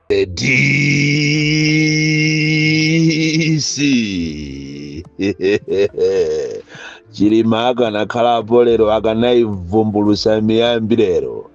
The DC. chilima akanakhala apo lero akanaivumbulusa miyambi lero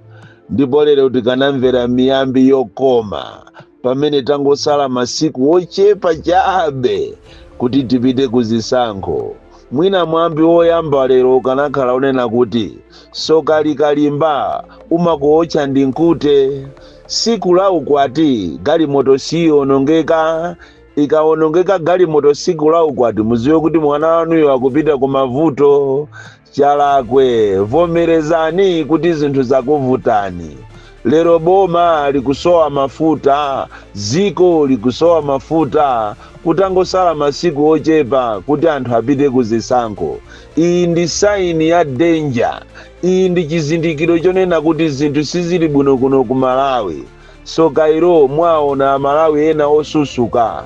ndipo lero tikanamvera miyambi yokoma pamene tangosala masiku ochepa chabe kuti tipite ku zisankho mwina mwambi woyamba lero ukanakhala wonena kuti soka likalimba umakuotcha ndi nkute siku la ukwati galimoto siyionongeka ikawonongeka galimoto siku la ukwati muziwe kuti mwana wanuyo akupita ku mavuto Chakwera vomerezani kuti zinthu zakuvutani. Lero boma likusowa mafuta, dziko likusowa mafuta kutangosala masiku ochepa kuti anthu apite ku zisankho. Iyi ndi sign ya danger. Iyi ndi chizindikiro chonena kuti zinthu sizili bwino kuno ku Malawi. Tsoka ilo mwaona amalawi ena osusuka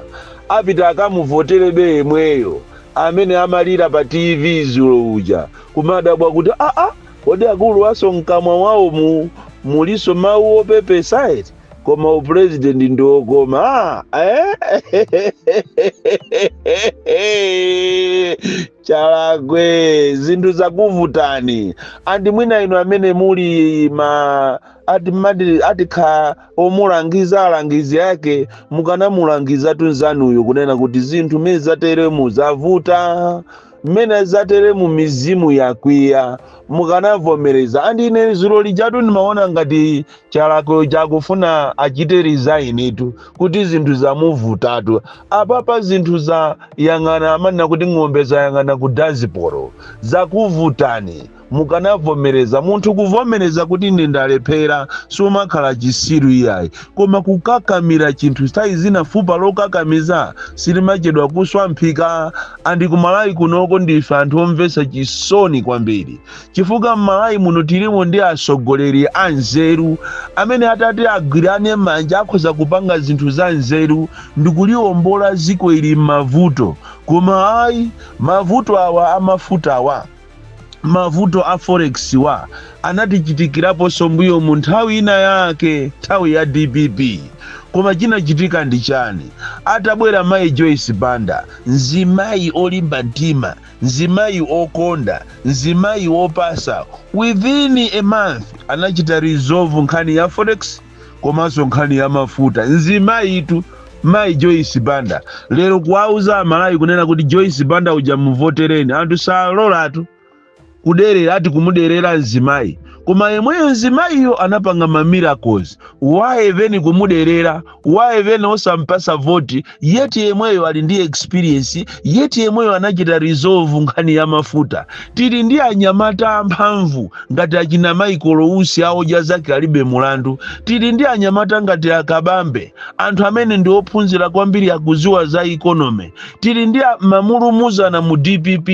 apite akamuvoterebe yemweyo amene amalira pa TV dzulo uja kumadabwa kuti aa kodi akuluwanso mkamwa mwaomu mulinso mau opepesa eti koma u president ndi wokoma eeh Chakwera zinthu zakuvutani and mwina inu amene muli ma ati mmati atikhale omulangiza alangizi ake mukanamulangizatu nzanuyo kunena kuti zinthu mmene zateremu zavuta mmene zateremu mizimu yakwiya mukanavomereza andi ine zulo lijatu ndimaona ngati Chakwera akufuna achite resignitu kuti zinthu zamuvutatu apapa zinthu zayang'ana amanena kuti ng'ombe zayang'ana ku dazibomu zakuvutani mukanavomereza. Munthu kuvomereza kuti ine ndalephera sumakhala chisiru iyayi, koma kukakamira chinthu nthawi zina fupa lokakamiza silimachedwa kuswa mphika. Andi kumalawi kunoko ndife anthu omvetsa chisoni kwambiri, chifukwa mmalawi muno tilimo ndi atsogoleri anzeru amene atati agwirane manja akhoza kupanga zinthu zanzeru ndikuliwombola dziko ili mmavuto, koma ayi mavuto awa amafutawa. mavuto a forex wa anatichitikiraponso mbuyomu nthawi ina yake nthawi ya dpp koma chinachitika ndi chani atabwera mayi joyce banda mzimayi olimba mtima mzimayi okonda mzimayi opasa within a month anachita resolve nkhani ya forex komanso nkhani ya mafuta nzimayitu mayi joyce banda lero kuwauza amalawi kunena kuti joyce banda uja muvotereni anthu salolatu kuderera ati kumuderera mzimayi koma yemweyo mzimayiyo anapanga ma miracles why even kumuderera why even osampasa voti yet yemweyo ali ndi experience yet yemweyo anachita resolve nkhani ya mafuta tili ndi anyamata amphamvu ngati achina Michael usi aodya zake alibe mulandu tili ndi anyamata ngati akabambe anthu amene ndi ophunzira kwambiri akuziwa za economy tili ndi a- mamulumuzana mu dpp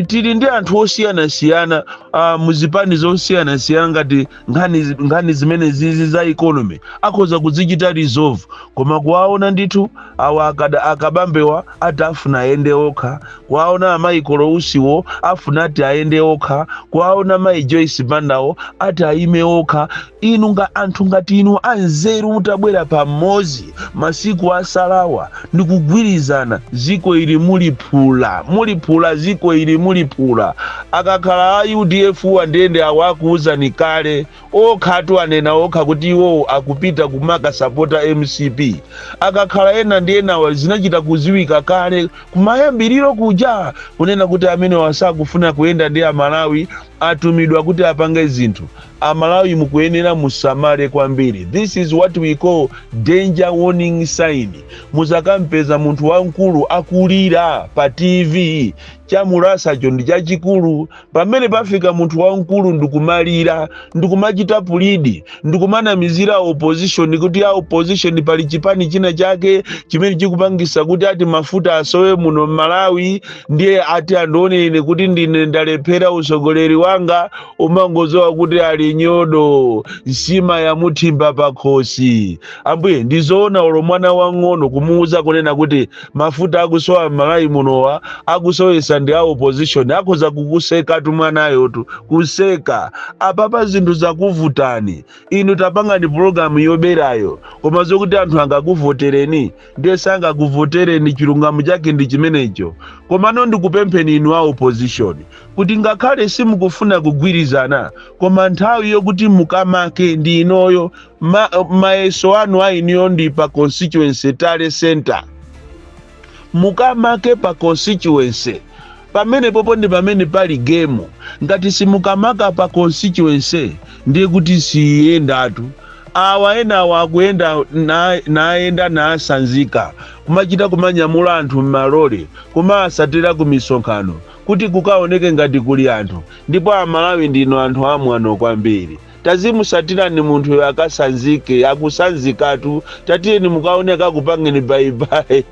tili ndi anthu osiyanasiyana uh, muzipani zosiyanasiyana ngati nkhani zi- nkhani zimene zizi za economy akhoza kuzichita resolve koma kuwaona ndithu awa akada akabambewa ati afuna ayende okha kuwaona a Michael Usiwo afuna ati ayende okha kuwaona mayi joyce bandawo ati ayime okha inu nga anthu ngati inu anzeru mutabwera pamodzi masiku asalawa ndikugwirizana ziko ili muli phula muli phula ziko ili muli phula akakhala a udf uwa ndiye nde awa akuwuzani kale okhatu anena okha kuti iwowo akupita kumakasapota mcp akakhala ena ndi enawa zinachita kuziwika kale kumayambiriro kuja kunena kuti amene asakufuna kuyenda ndi amalawi atumidwa kuti apange zinthu Amalawi mukuyenera musamale kwambiri this is what we call danger warning sign muzakampeza munthu wamkulu akulira pa TV chamulasacho ndi chachikulu pamene pafika munthu wamkulu ndikumalira ndikumachita plead ndikumanamizira opposition kuti a opposition pali chipani china chake chimene chikupangisa kuti ati mafuta asowe muno m'malawi ndiye ati andione ine kuti ndine ndalephera usogoleri wanga umangoziwa kuti ali nyodo nsima yamuthimba pakhosi ambuye ndizoona olo mwana wang'ono kumuuza kunena kuti mafuta akusowa m'malawi munowa akusowesa ndi a opposition akhoza kukusekatu mwanayotu kuseka apapa zinthu zakuvutani inu tapangani pulogalamu yoberayo koma zokuti anthu angakuvotereni ndiye sangakuvotereni chilungamo chake ndi chimenecho komano ndikupempheni inu a opposition kuti ngakhale simukufuna kugwirizana koma nthawi yokuti mukamake ndi inoyo ma, mayeso anu a inuyo ndi pa constituency tally center mukamake pa constituency Pamenepopo ndi pamene pali game. Ngati simukamaka pa constituency ndiye kuti siiyendatu. Awa enawa akuyenda na- nayenda nasanzika kumachita kumanyamula anthu m'malole kumaasatera ku misonkhano kuti kukaoneke ngati kuli anthu ndipo amalawi ndinu anthu amwano kwambiri tazimusatirani munthuyo akasanzike akusanzikatu tatiyeni mukaone akupangeni bayibayi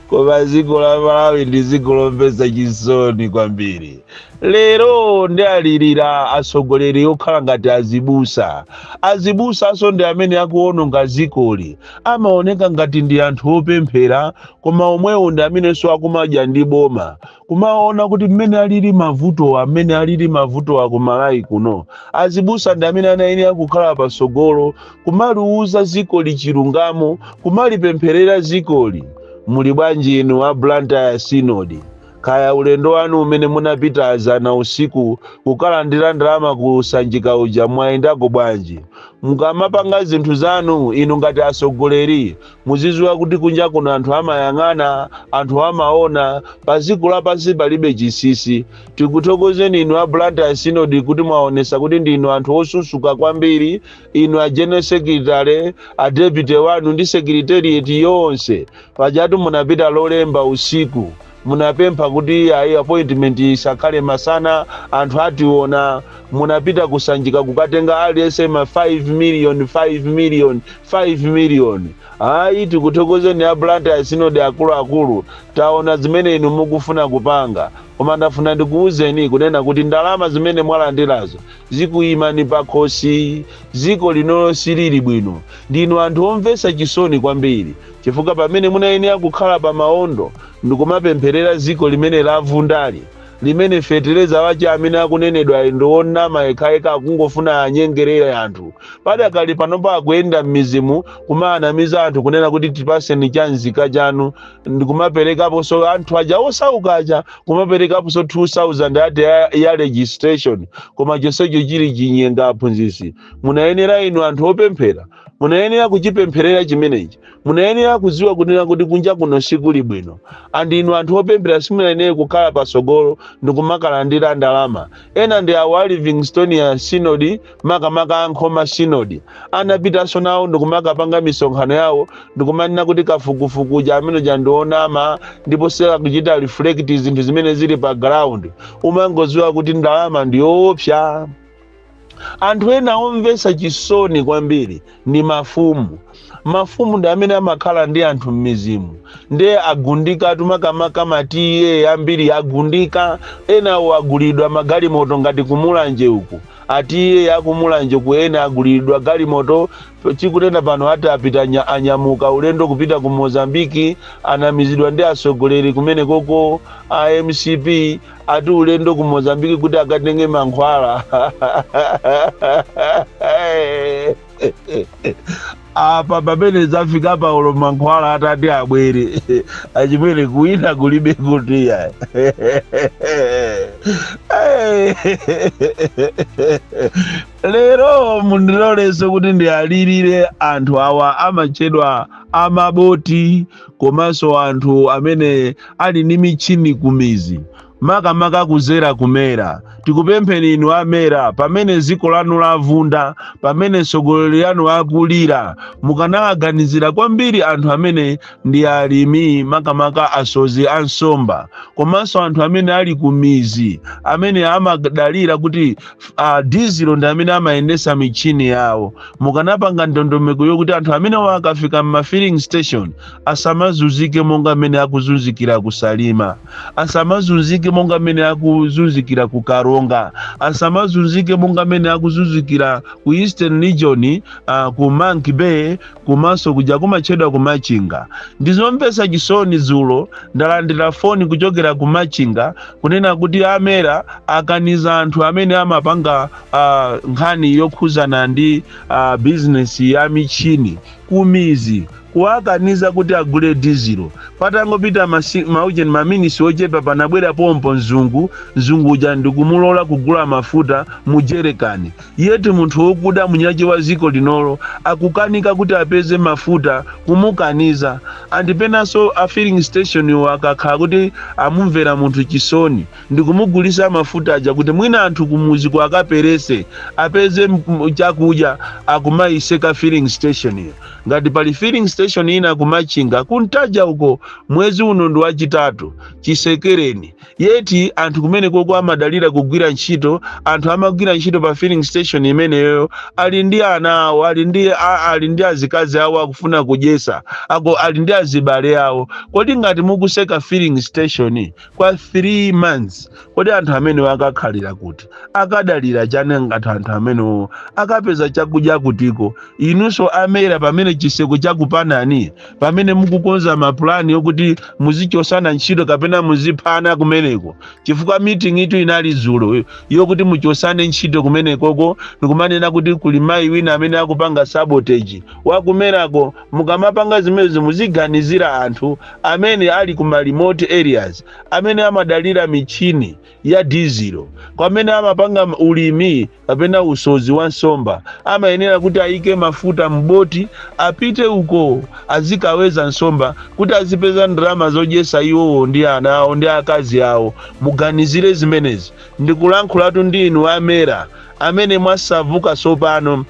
koma dziko la malawi ndi dziko lomvetsa chisoni kwambiri lero ndi alirira atsogoleri okhala ngati azibusa azibusanso ndi amene akuononga dzikoli amaoneka ngati ndi anthu opemphera koma omwewo ndi amenenso akumadya ndi boma kumaona kuti mmene alili mavutowa mmene alili mavutowa ku malawi kuno azibusa ndi amene anayenera kukhala patsogolo kumaliuza zikoli chilungamo kumalipempherera zikoli muli bwanji inu a blantyre synod kaya ulendo wanu umene munapita azana usiku kukalandira ndalama ku sanjika uja mwayendako bwanji mukamapanga zinthu zanu inu ngati atsogoleri muzidziwa kuti kunja kuno anthu amayang'ana anthu amaona pa dziko lapansi palibe chisisi tikuthokozeni inu a blantyre synod kuti mwaonesa kuti ndinu anthu osusuka kwambiri inu a general secretary a deputy wanu ndi secretariat yonse pajatu munapita lolemba usiku munapempha kuti ayi appointment isakhale masana anthu ationa munapita ku Sanjika kukatenga aliyense ma 5 million 5 million 5 million ayi tikuthokozeni a blantyre synod akuluakulu taona zimene inu mukufuna kupanga koma ndafuna ndikuwuzeni kunena kuti ndalama zimene mwalandirazo Zikuyimani pakhosi. Dziko linolo silili bwino. Ndinu anthu omvetsa chisoni kwambiri chifukwa pamene munayenera kukhala pa maondo ndikumapempherera dziko limene lavundali, limene fetereza wache amene akunenedwayu ndi wonnama yekhayekha akungofuna anyengerere anthu, padakali panopa akuyenda mmidzimu kumaanamiza anthu kunena kuti tipaseni cha nzika chanu ndikumaperekaponso anthu aja osauka aja kumaperekaponso 2000 ati ya, ya registration koma chonsecho chili chinyenga aphunzitsi munayenera inu anthu opemphera munayenera kuchipempherera chimenechi munayenera kudziwa kunena kuti kunja kuno sikuli bwino and inu anthu opemphera simunayenere kukhala patsogolo ndikumakalandira ndalama ena ndi awa livingstonia synod makamaka a Nkhoma Synod, anapitanso nawo ndikumakapanga misonkhano yawo ndikumanena kuti kafukufuku uja amene uja ndi onama ndipo sakuchita reflect zinthu zimene zili pa ground umangodziwa kuti ndalama ndi yoopsa anthu ena omvetsa chisoni kwambiri ndi mafumu. Mafumu ndi amene amakhala ndi anthu m'mizimu ndiye agundikatu makamaka ma ta ambiri agundika enawo aguliridwa magalimoto ngati kumulanje uku a ta akumulanje uku ena aguliridwa galimoto tikunena pano ati apita anya- anyamuka ulendo kupita ku mozambiki anamizidwa ndi atsogoleri kumenekoko a mcp ati ulendo ku mozambiki kuti akatenge mankhwala apa pamene zafika paulo mankhwala atati abwere achimwene kuwina kulibe kutiya lero mundilolenso kuti ndiwalirire anthu awa amatchedwa amaboti komanso anthu amene ali ndi michini kumizi makamaka kuzera ku mera tikupempheni inu a mera pamene dziko lanu lavunda pamene tsogoleri wanu akulira mukanawaganizira kwambiri anthu amene ndi alimi makamaka asozi a nsomba komanso anthu amene ali kumizi amene amadalira kuti uh, dizilo ndi amene amayendesa michini yawo mukanapanga ndondomeko yokuti anthu amenewa akafika m'ma filling station asamazunzike monga mmene akuzunzikira ku salima asamazunzike monga mmene akuzunzikira ku karonga asamazunzike monga mmene akuzunzikira ku eastern region uh, ku monkey bay komanso kuja kumatchedwa ku machinga ndizomvetsa chisoni dzulo ndalandira foni kuchokera ku machinga kunena kuti a mera akaniza anthu amene amapanga uh, nkhani yokhuzana ndi uh, bizinesi ya michini kumizi kuwakaniza kuti agule dizilo patangopita masi- maujeni maminisi ochepa panabwera pompo mzungu mzungu uja ndikumulola kugula mafuta mu jerekani yeti munthu wokuda mwini wache wa ziko linolo akukanika kuti apeze mafuta kumukaniza and penanso a filling station wo akakhala kuti amumvera munthu chisoni ndikumugulisa mafuta aja kuti mwina anthu kumuziko akaperese apeze chakudya akumaiseka filling station yo ngati pali filling station ina kumachinga ku ntaja uko mwezi uno ndi wachitatu chisekereni yeti anthu kumenekoko amadalira kugwira ntchito anthu amagwira ntchito pa filling station imeneyo ali ndi ana awo ali ndi a- ali ndi azikazi awo akufuna kudyesa ali ndi azibale awo kodi ngati mukuseka filling station kwa 3 months kodi anthu amenewo akakhalira kuti akadalira chani ngati anthu amenewo akapeza chakudya kutiko inunso a MERA pamene chiseko chakupanani pamene mukukonza mapulani okuti muzichosana ntchito kapena muziphana kumeneko chifukwa meetingitu inali dzulo yokuti muchosane ntchito kumenekoko ndikumanena kuti kuli mayi wina amene akupanga sabotage wa ku MERA ko mukamapanga zimezi muziganizira anthu amene ali ku ma remote areas amene amadalira michini ya dizilo kwamene amapanga m- ulimi kapena usodzi wa nsomba amayenera kuti ayike mafuta m'boti apite uko azikaweza nsomba kuti azipeza ndalama zodyesa iwowo ndi ana awo ndi akazi awo muganizire zimenezi ndikulankhulatu ndi inu a MERA amene mwasauka tsopano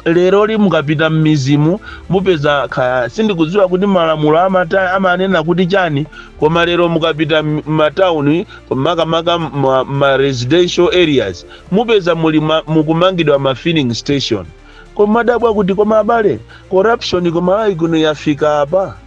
leroli mukapita m'mizimu mupeza kaya sindikudziwa kuti malamulo amata amanena kuti chani koma lero mukapita m- m'matauni makamaka ma, ma residential areas mupeza muli ma, mukumangidwa ma filling station kumadabwa kuti koma abale corruption ku Malawi kuno yafika apa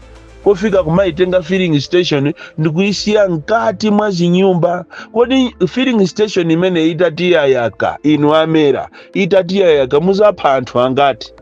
kufika kumayitenga filling station ndikuyisiya mkati mwa zinyumba kodi filling station imene itati yayaka inu a MERA itati yayaka muzapha anthu angati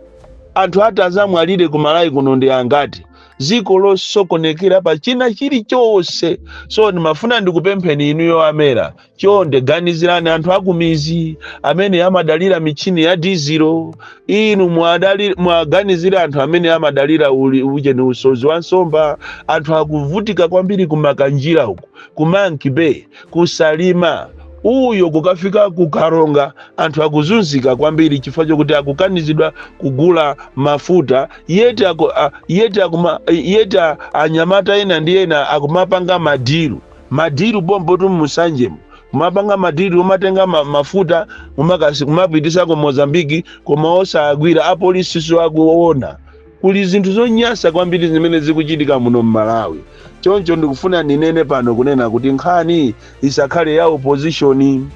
anthu ati azamwalire ku malawi kuno ndi angati ziko losokonekera pa china chilichonse so ndimafuna ndikupempheni inu yo a MERA chonde ganizirani anthu akumizi amene amadalira michini ya dizilo inu mwadali- muwaganizire anthu amene amadalira uli- uje ni usozi wa nsomba anthu akuvutika kwambiri ku Makanjira uku ku monkey bay Ku Salima uyo kukafika ku Karonga anthu akuzunzika kwambiri chifukwa chokuti akukanizidwa kugula mafuta yeti aku, a, yeti akuma, yeti a- anyamata ena ndi ena akumapanga madiru madiru pompotu musanjemo kumapanga madiru kumatenga ma, mafuta umakasi- kumapitisa ku Mozambiki koma osawagwira apolisiso akuona Kuli zinthu zonyasa kwambili zimene zikuchitika muno mmalawi choncho ndikufuna ndinene pano kunena kuti nkhani isakhale ya opposition.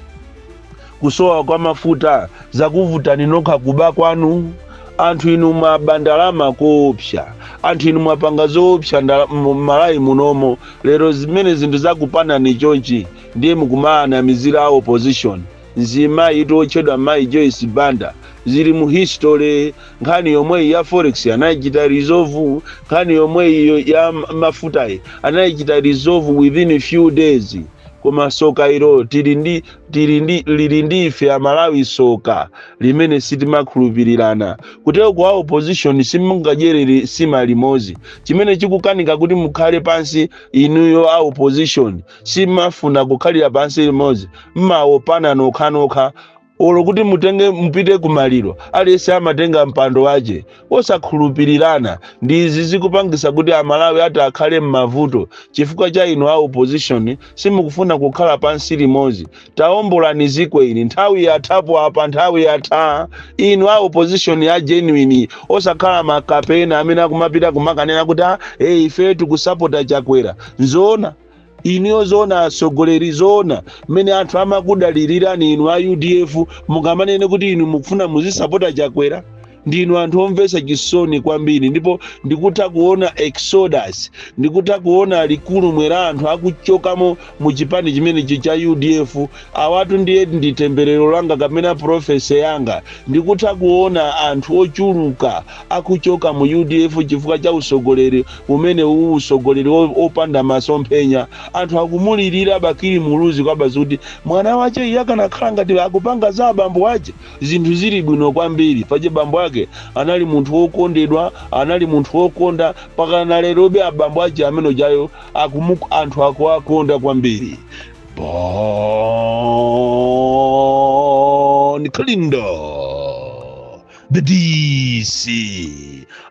Kusowa kwa mafuta zakuvutani nokha kuba kwanu anthu inu mwaba ndalama koopsa anthu inu mwapanga zoopsa ndala, mmalawi munomo lero zimene zinthu zakupanani chonchi ndiye nkumawanamizira a opposition Mzimayitu wotchedwa Mayi Joyce Banda zili mu history. Nkhani yomweyi ya forex anaichita resolve, nkhani yomweyi ya mafutayi anaichita resolve within few days. Koma soka ilo tili ndi tili ndi lili ndi ife Amalawi soka limene sitimakhulupirirana. Kuteroko a opposition simungadyerere sima limozi. Chimene chikukanika kuti mukhale pansi inuyo a opposition simafuna kukhalira pansi limodzi mmawopana nokhanokha olo kuti mutenge mupite kumaliro aliyense amatenga mpando wache osakhulupirirana ndi izi zikupangisa kuti amalawi ati akhale mmavuto chifukwa cha inu a opposition simukufuna kukhala pansi limodzi taombolani ziko ili nthawi yathapo apa nthawi yatha inu a opposition ya genuine osakhala makape ena amene akumapita kumakanena kuti "Ah, eh, ife tikusapota chakwera nzoona inuyo zoona atsogoleri zoona mmene anthu amakudalilirani inu a udf mungamanene kuti inu mukufuna muzisapota chakwera ndinu anthu omvetsa chisoni kwambiri ndipo ndikutha kuona exodus ndikutha kuona likulumwe la anthu akuchokamo mu chipani chimenechi cha udf awatu ndiye ndi temberero langa kapena profesi yanga ndikutha kuona anthu ochuluka akuchoka mu udf chifukwa cha usogoleri umene uwu usogoleri opanda masomphenya anthu akumulilira bakili muluzi kwabasi kuti mwana wache iye akanakhala ngati akupanga za abambo wache zinthu zili bwino kwambiri paja bambo ake anali munthu wokondedwa anali munthu wokonda pakana lerobe abambo ache amene ujayo akumu anthu akuwakonda kwambiri bon kalindo the dc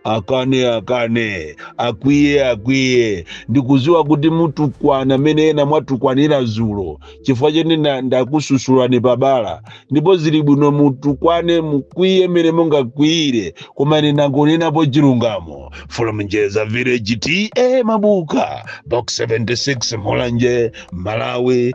akane akane akwiye akwiye ndikuziwa kuti mutukwana mene ena mwatukwanira zulo chifukwa chene nda- ndakususulani pabala ndipo zili bwino mutukwane mukwiye mene mungakwiyire koma ine ndangonenapo chilungamo from njedza village ta mabuka box 76 mulanje malawi